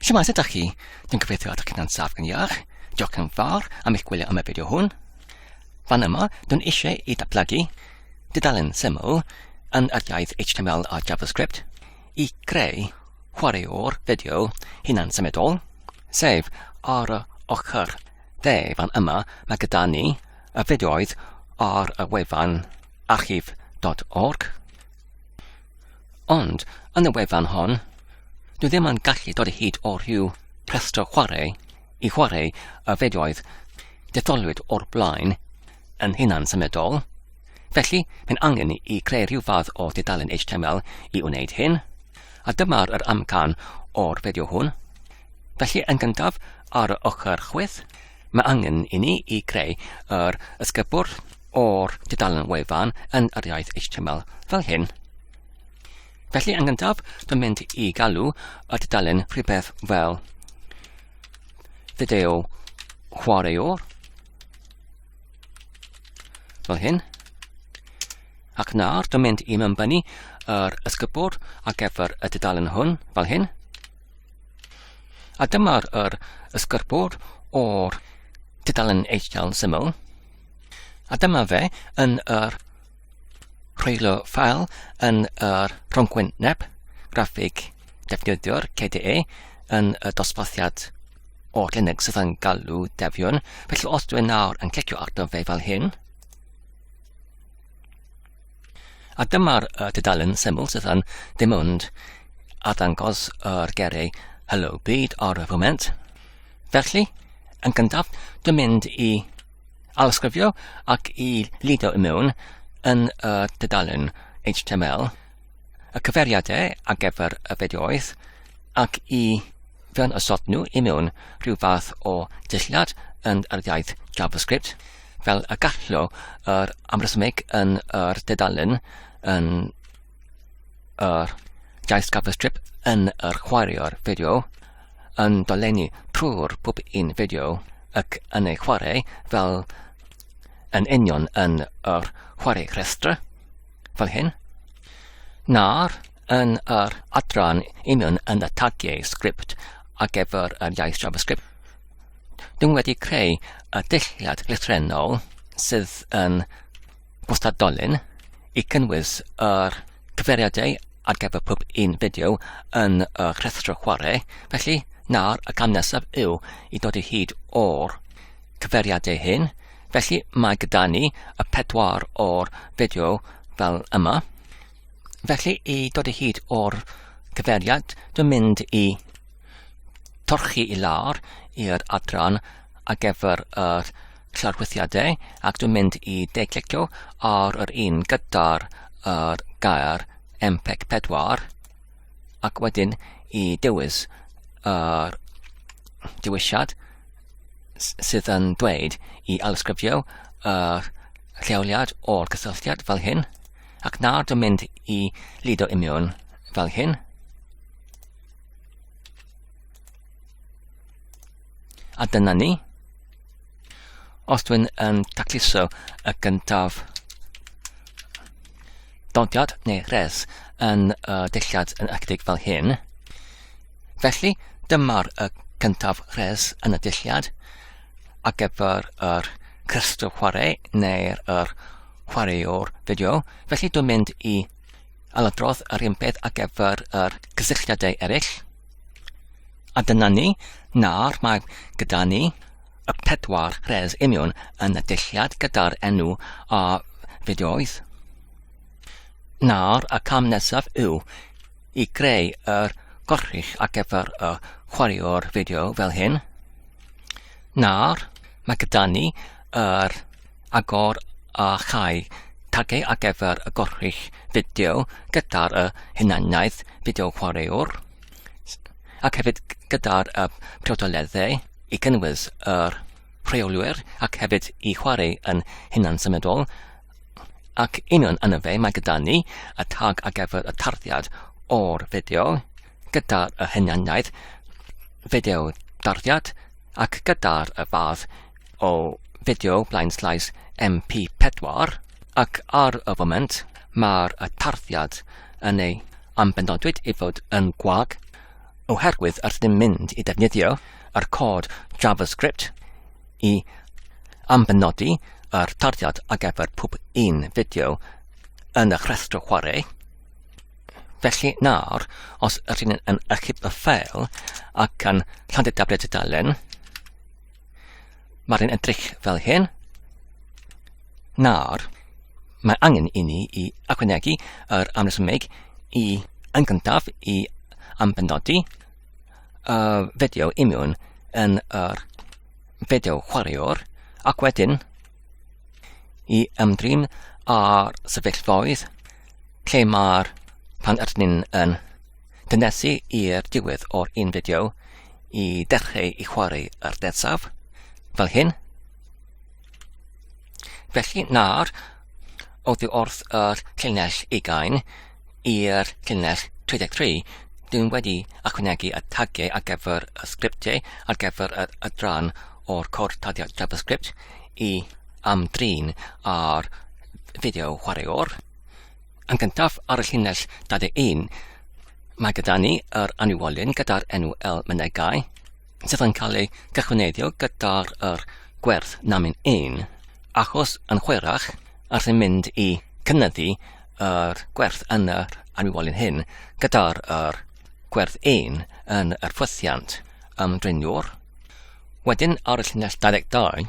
Siwmas ydych chi? Dwi'n gobeithio ydych chi'n ansaf yn iach. Diolch yn fawr am eich gwylio am y fideo hwn. Fan yma, dwi'n eisiau i datblygu dudalen syml yn yr iaith HTML a JavaScript i greu chwaraewr fideo hunan symudol, sef ar y ochr dde fan yma mae gyda ni y fideoedd ar y wefan archif.org. Ond, yn y wefan hon, dwi ddim yn gallu dod hyd o rhyw rhestr chwarae i chwarae y fideoedd detholwyd o'r blaen yn hunan symudol, felly mae'n angen i creu rhyw fath o dudalen HTML i wneud hyn, a dyma'r yr amcan o'r fideo hwn. Felly yn gyntaf, ar y ochr chwith, Mae angen i ni i greu yr ysgubwrdd o'r dudalen wefan yn yr iaith HTML fel hyn. Felly yn gyntaf, dwi'n mynd i galw y dudalen rhywbeth fel fideo chwaraewr fel hyn. Ac nawr dwi'n mynd i mymbynnu yr ysgubwrdd ar gyfer y dudalen hwn fel hyn. A dyma'r yr ysgyrpwr o'r tudalen HTML syml. A dyma fe yn yr rheilio ffael yn yr rhongwyn neb graffig defnyddio'r KDE yn y dosbarthiad o Linux sydd yn galw defion. Felly os dwi'n nawr yn clicio arno fe fel hyn, A dyma'r uh, tudalen syml sydd yn dim ond a ddangos yr gerau Hello Byd ar y foment. Felly, yn gyntaf, dwi'n mynd i alysgrifio ac i lido i mewn yn y dudalen HTML y cyfeiriadau ar gyfer y fideoedd ac i fewn ysod nhw i mewn rhyw fath o dulliad yn yr iaith JavaScript fel y gallo yr amrysmig yn yr dedalen yn yr iaith JavaScript yn yr chwaraeo'r fideo yn dolenni trwy'r pob un fideo ac yn ei chwarae fel yn union yn yr chwarae rhestr, fel hyn, na'r yn yr adran union yn y tagiau sgript ar gyfer yr iaith JavaScript. Dwi'n wedi creu y dulliad llythrennol sydd yn gwstadolyn i cynnwys yr cyfeiriadau ar gyfer pob un fideo yn y rhestr chwarae, felly nawr y cam nesaf yw i dod i hyd o'r cyfeiriadau hyn, felly mae gyda ni y pedwar o'r fideo fel yma. Felly i dod i hyd o'r cyfeiriad, dwi'n mynd i torchi i lawr i'r adran ar gyfer y llorwythiadau ac dwi'n mynd i deglicio ar yr un gyda'r yr gair MPEG 4 ac wedyn i dewis yr dewisiad sydd yn dweud i alysgrifio yr lleoliad o'r cysylltiad fel hyn ac nawr dwi'n mynd i lido imiwn fel hyn a dyna ni Os dwi'n yn tacluso y gyntaf dodiad neu res yn y dillad yn ychydig fel hyn, felly dyma'r y cyntaf res yn y dillad a gyfer yr crystal chwarae neu'r yr chwaraewr fideo, felly dwi'n mynd i a ladrodd yr un peth ar gyfer yr cysylltiadau eraill. A dyna ni, nawr mae gyda ni y pedwar res union yn y dulliad gyda'r enw a fideoedd. Nawr y cam nesaf yw i greu yr gorrych ar gyfer y chwaraewr fideo fel hyn. Nawr mae gyda ni yr agor a chau tagau ar gyfer y gorchudd fideo gyda'r y hunaniaeth fideo chwaraewr ac hefyd gyda'r y priodoleddau i gynnwys yr rheolwyr ac hefyd i chwarae yn hunan symudol ac union yn y fe mae gyda ni y tag ar gyfer y tarddiad o'r fideo gyda'r y hunaniaeth fideo darddiad ac gyda'r y fath o fideo blaenllaes MP4 ac ar y foment mae'r tarddiad yn ei ambenodwyd i fod yn gwag oherwydd yr ydym mynd i ddefnyddio yr cod JavaScript i ambenodi yr tarddiad ar gyfer pob un fideo yn y rhestr chwarae. Felly nawr, os ydyn yn achub y ffeil ac yn llandu tabled y dalen, Mae'n edrych fel hyn. Nawr, mae angen i ni i ychwanegu yr amresymeg i yn gyntaf i ambenodi y fideo i mewn yn yr fideo chwaraewr ac wedyn i ymdrin â'r sefyllfaoedd lle mae'r pan ydyn ni'n yn Dynes i i'r diwedd o'r un fideo i dechrau i chwarae ar dedsaf, fel hyn. Felly nawr, oddi wrth yr llinell ugain i'r llinell 33, dwi'n wedi achwnegu y tagiau ar gyfer y sgriptiau ar gyfer yr adran o'r cwrdd tagio JavaScript i amdrin ar fideo chwaraewr. Yn gyntaf, ar y llinell 21, mae gyda ni yr anniwolyn gyda'r enw El Mynegai, sydd yn cael ei gychwyneiddio gyda'r er gwerth namin ein, achos yn chwerach, ar sy'n mynd i cynnyddu yr gwerth yn yr anniwolyn hyn gyda'r er gwerth ein yn yr ffwythiant ymdreiniwr. Wedyn, ar y llinell 22,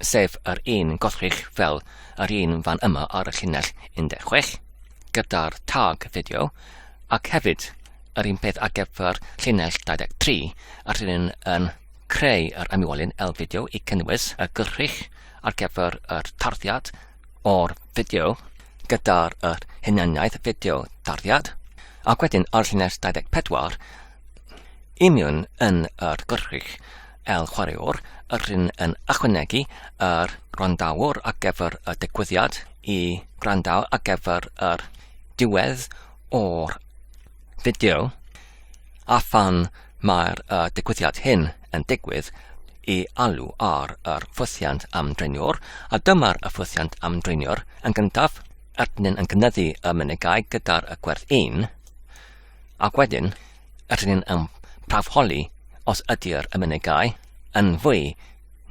sef yr un gollrych fel yr un fan yma ar y llinell 16, gyda'r tag fideo, ac hefyd yr un peth ar gyfer llinell 23, a rydyn yn creu yr ymwelyn L-fideo i cynnwys y gollrych ar gyfer yr tarddiad o'r fideo gyda'r yr hunaniaeth fideo tarddiad, ac wedyn ar llinell 24, imiwn yn yr gollrych El Chwaraewr yr hyn yn ychwanegu yr gwrandawr ar gyfer y digwyddiad i gwrando ar gyfer yr diwedd o'r fideo a phan mae'r uh, digwyddiad hyn yn digwydd i alw ar yr ffwythiant am dreiniwr a dyma'r y ffwythiant am dreiniwr yn gyntaf Erdyn yn cynyddu y mynegau gyda'r y gwerth 1 ac wedyn Ydyn ni'n um, prawfholi os ydy'r ymunigau yn fwy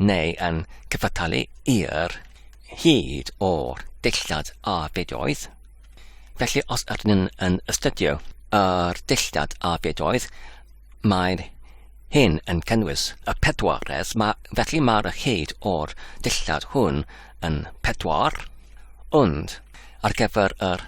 neu yn cyfattalu i'r hyd o'r dillad a bedoedd. Felly os ydyn nhw'n yn astudio yr dillad a bedoedd, mae'r hyn yn cynnwys y pedwaredd, mae, felly mae'r hyd o'r dillad hwn yn pedwar, ond ar gyfer yr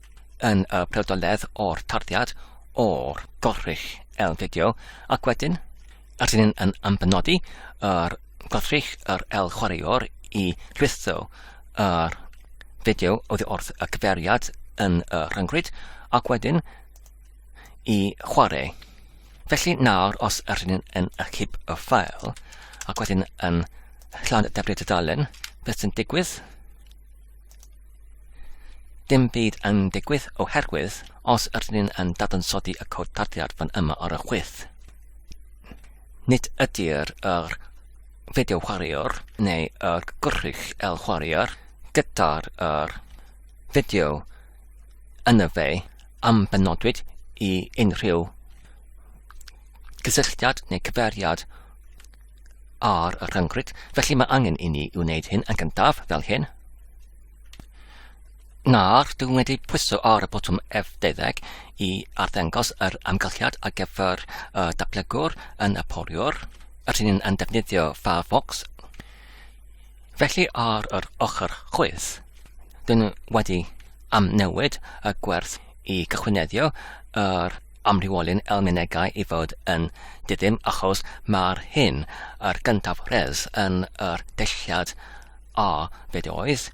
yn y pryfdoledd o'r tarddiad o'r gorrych L-fideo ac wedyn rydyn ni'n yn ambenodi yr gorrych yr L-chwaraewr i rhwytho yr fideo oddi wrth y cyfeiriad yn y rhyngrwyd ac wedyn i chwarae. Felly nawr os rydyn ni'n yn achub y ffael ac wedyn yn llawn defnydd y dalen, beth sy'n digwydd? Dim byd yn digwydd oherwydd os ydyn ni'n yn dadansoddi y cod tarddiad fan yma ar y chwith. Nid ydy'r yr fideo chwaraewr neu yr gwrych el chwaraewr gyda'r yr fideo yn y fe am benodwyd i unrhyw gysylltiad neu cyfeiriad ar y rhyngrwyd, felly mae angen i ni wneud hyn yn gyntaf fel hyn. Nawr, dwi'n wedi pwyso ar y botwm F12 i arddangos yr amgylchiad ar gyfer y datblygwr yn y poliwr, yr hyn yn defnyddio Firefox. Felly ar yr ochr chwith, dyn wedi amnewid y gwerth i gychwyneddio yr amrywiolyn elmenegau i fod yn diddym achos mae'r hyn yr gyntaf res yn yr delliad a be dy oedd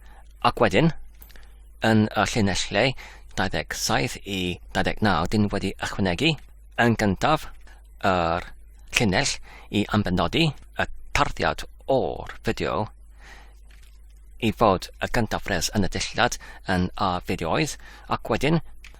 ac wedyn yn y llinellau 27 i 29 dyn wedi ychwanegu yn gyntaf yr llinell i ambenodi y tarddiad o'r fideo i fod y gyntaf res yn y delliad yn a fideo oedd ac wedyn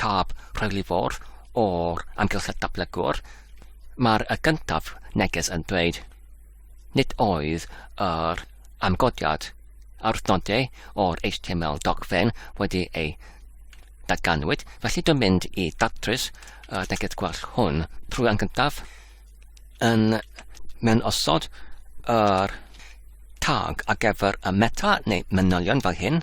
tab rheiliffordd o'r amgylchedd datblygwr, mae'r y gyntaf neges yn dweud nid oedd yr amgodiad a'r nodau o'r HTML dogfen wedi ei datganwyd, felly dwi'n mynd i datrys y neges gwell hwn trwy yn gyntaf yn mewn osod yr tag ar gyfer y meta neu manylion fel hyn,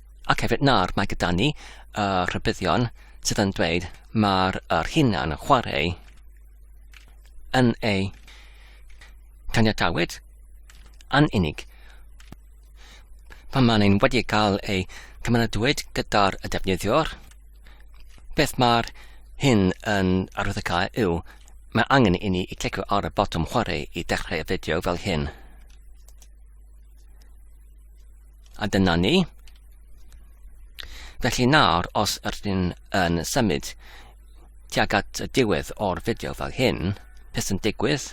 ac hefyd nawr mae gyda ni y rhybuddion sydd yn dweud mae'r er hunan yn chwarae yn ei caniatawyd yn unig. Pan mae'n ein wedi cael ei cymeradwyd gyda'r y defnyddiwr, beth mae'r hyn yn arwyddocael yw, mae angen i ni i clicio ar y botwm chwarae i dechrau y fideo fel hyn. A dyna ni. Felly nawr, os ydyn yn symud tuag at y diwedd o'r fideo fel hyn, beth sy'n digwydd?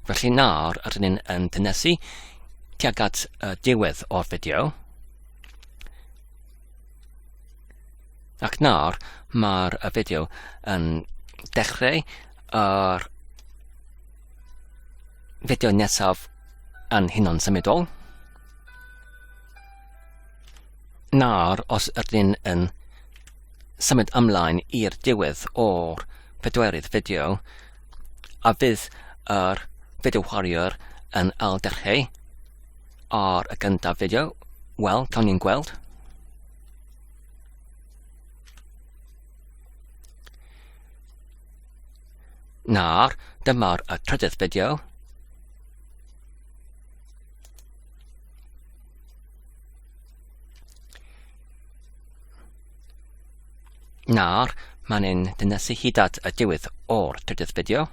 Felly nawr rydyn ni'n yn dynesu tuag at y diwedd o'r fideo. Ac nawr mae'r fideo yn dechrau yr fideo nesaf yn hunan symudol. Nawr, os ydyn yn symud ymlaen i'r diwedd o'r pedwerydd fideo, a fydd yr fideo warrior yn ail dechrau ar y gyntaf fideo, wel, cawn ni'n gweld. Nawr, dyma'r trydydd fideo. Nawr, mae'n ni'n dynesu hyd at y diwedd o'r trydydd fideo.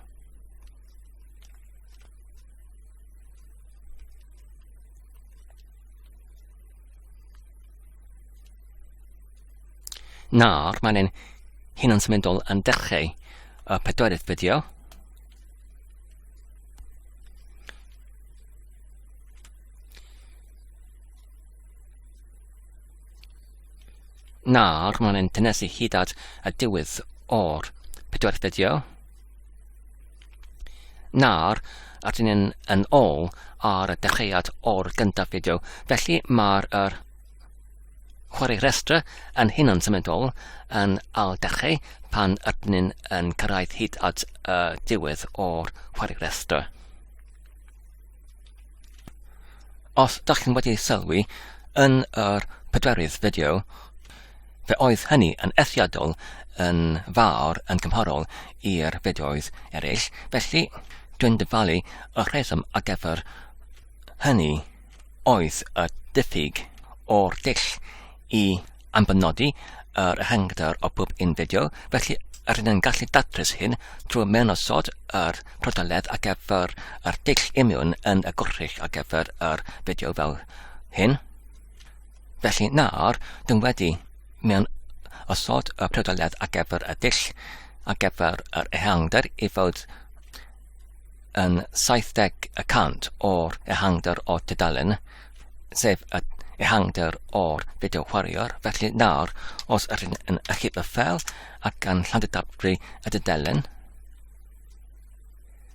Nawr, mae'n ni'n hyn yn symudol yn dechrau y pedwerydd fideo. Nawr, mae'n ein tynesu hyd at y diwedd o'r pedwar fideo. Nawr, rydyn ni'n yn ôl ar y dechreuad o'r gyntaf fideo, felly mae'r er chwarae rhestr yn hunan symudol yn al dechrau pan rydyn ni'n yn cyrraedd hyd at y diwedd o'r chwarae rhestr. Os dach chi'n wedi sylwi yn yr pedwerydd fideo, fe oedd hynny yn ethiadol yn fawr yn gymharol i'r fideoedd eraill, felly dwi'n dyfalu y rheswm ar gyfer hynny. oedd y diffyg o'r dull i ambanodi yr ehangder o bob un fideo, felly rydyn yn gallu datrys hyn trwy mewnosod yr prodaledd ar gyfer yr dull imiwn yn y gwrthrych ar gyfer yr fideo fel hyn. Felly nawr, dyn wedi mewn osod y prodaledd ar gyfer y dull ar gyfer yr ehangder i fod yn 70 y cant o'r ehangder o tudalen, sef y ehangder o'r fideo chwaraewr. Felly nawr, os ydyn yn achub y ffel ac yn llandydabru y dudalen,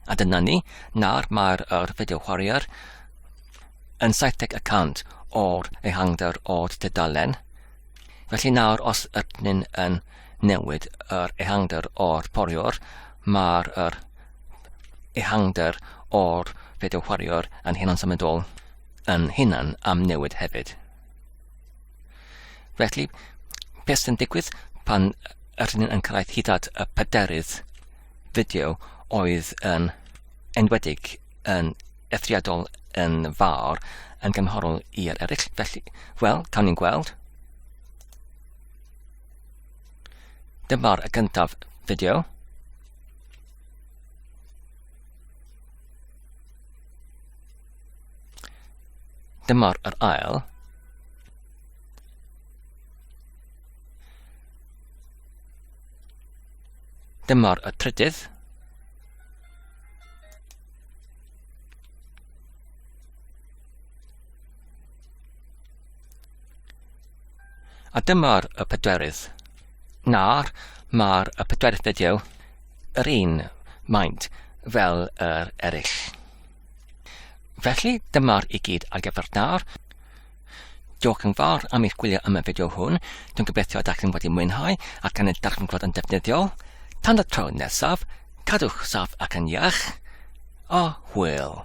a dyna ni, nawr mae'r er fideo chwaraewr yn 70 y cant o'r ehangder o'r tudalen. Felly nawr, os ydyn yn newid yr ehangder o'r poriwr, mae'r yr ehangder o'r fideo chwaraewr yn hunan symudol yn hunan am newid hefyd. Felly, beth sy'n digwydd pan yr hyn yn cyrraedd hyd at y pedarydd fideo oedd yn enwedig yn ethriadol yn fawr yn gymharol i'r eraill. Felly, wel, cawn ni'n gweld. Dyma'r y gyntaf fideo. Dyma'r yr ail. Dyma'r y trydydd. A dyma'r y pedwerydd. Na'r, mae'r y pedwerydd fideo yr un maint fel yr eraill. Felly dyma'r i gyd ar gyfer nawr. Diolch yn fawr am eich gwylio am y fideo hwn. Dwi'n gobeithio ydych chi'n wedi mwynhau ac yn y darganfod yn defnyddiol. Tan y tro nesaf, cadwch saff ac yn iach. A hwyl!